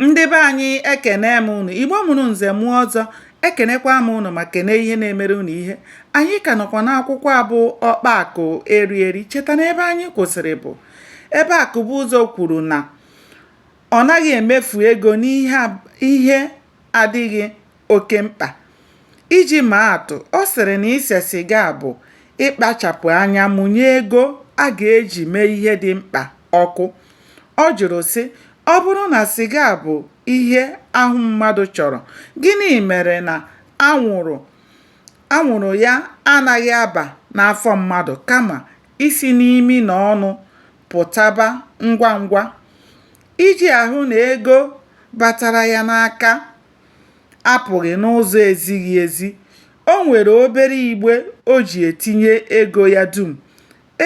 ndị be anyị ekene m ụnụ igbo mụrụ nze mụọ ọzọ ekenekwa m ụnụ ma kene ihe na-emere ụnụ ihe anyị ka nọkwa n'akwụkwọ a bụ ọkpa akụ eri eri cheta na ebe anyị kwụsịrị bụ ebe akụbụzọ kwuru na ọ naghị emefu ego n'ihe adịghị oke mkpa. Iji maa atụ, ọ sịrị na ise siga bụ ịkpachapụ anya mụnye ego a ga-eji mee ihe dị mkpa ọkụ. Ọ jụrụ, sị, Ọ bụrụ na siga bụ ihe ahụ mmadụ chọrọ, gịnị mere na anwụrụ ya anaghị aba n'afọ mmadụ kama isi n'imi na ọnụ pụtaba ngwa ngwa? Iji ahụ na ego batara ya n'aka apụghị n'ụzọ ezighị ezi, o nwere obere igbe o ji etinye ego ya dum.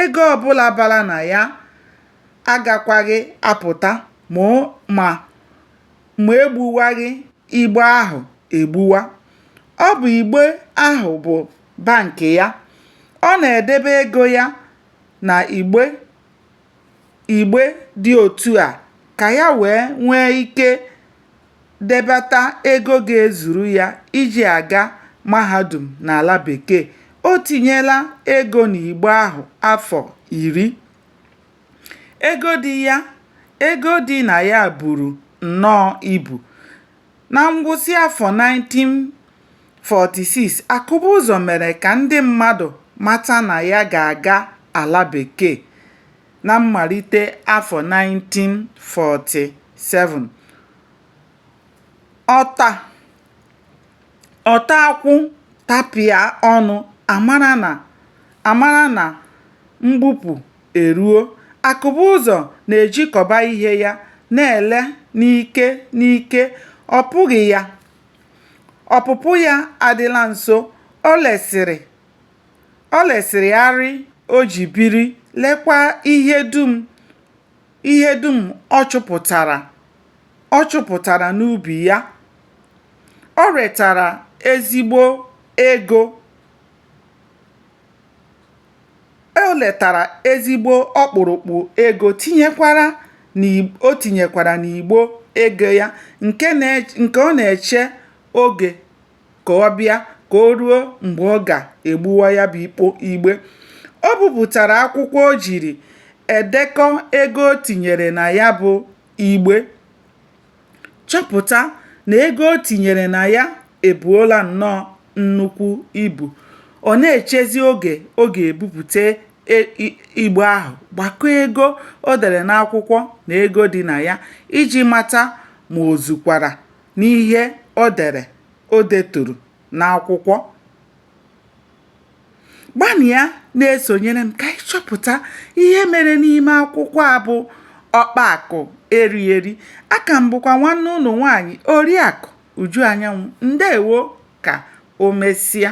Ego ọbụla bara na ya agakwaghị apụta ma e gbuwaghị igbe ahụ egbuwa. Ọ bụ igbe ahụ bụ bank ya. Ọ na-edebe ego ya na igbe igbe dị otu a ka ya wee nwee ike debata ego ga-ezuru ya iji aga mahadum n'ala bekee. O tinyela ego n'igbe ahụ afọ iri. Ego dị ya ego dị na ya buru nnọọ ibu. Na ngwụsị afọ 1946, Akụbụzọ mere ka ndị mmadụ mata na ya ga-aga ala Bekee na mmalite afọ 1947. Ọta ọta akwụ tapịa ọnụ, a mara na mgbupụ eruo, Akụbụzọ na-ejikọba ihe ya na-ele n'ike n'ike, ọ pụghị ya, ọpụpụ ya adịla nso, o lesịrị, o lesịrị arịa o ji biri, lekwa ihe dum, ihe dum ọ chụpụtara, ọ chụpụtara n'ubi ya. O retara ezigbo ego. o letara ezigbo ọkpụrụkpụ ego tinyekwara na o tinyekwara n'igbe ego ya nke na nke ọ na-eche oge ka ọ bịa ka o ruo mgbe ọ ga-egbuwa ya bụ ikpo igbe o bupụtara akwụkwọ o jiri edekọ ego o tinyere na ya bụ igbe chọpụta na ego o tinyere na ya ebuola nnọọ nnukwu ibu. Ọ na-echezi oge ọ ga-ebupute igbe ahụ, gbakọọ ego o dere n'akwụkwọ na ego dị na ya iji mata ma o zukwara n'ihe o dere o deturu n'akwụkwọ. gbanịa na-esonyere m ka anyị chọpụta ihe mere n'ime akwụkwọ a bụ ọkpa akụ eri eri aka m bụkwa nwanne unu nwaanyị oriakụ uju anyanwụ ndewo ka o mesịa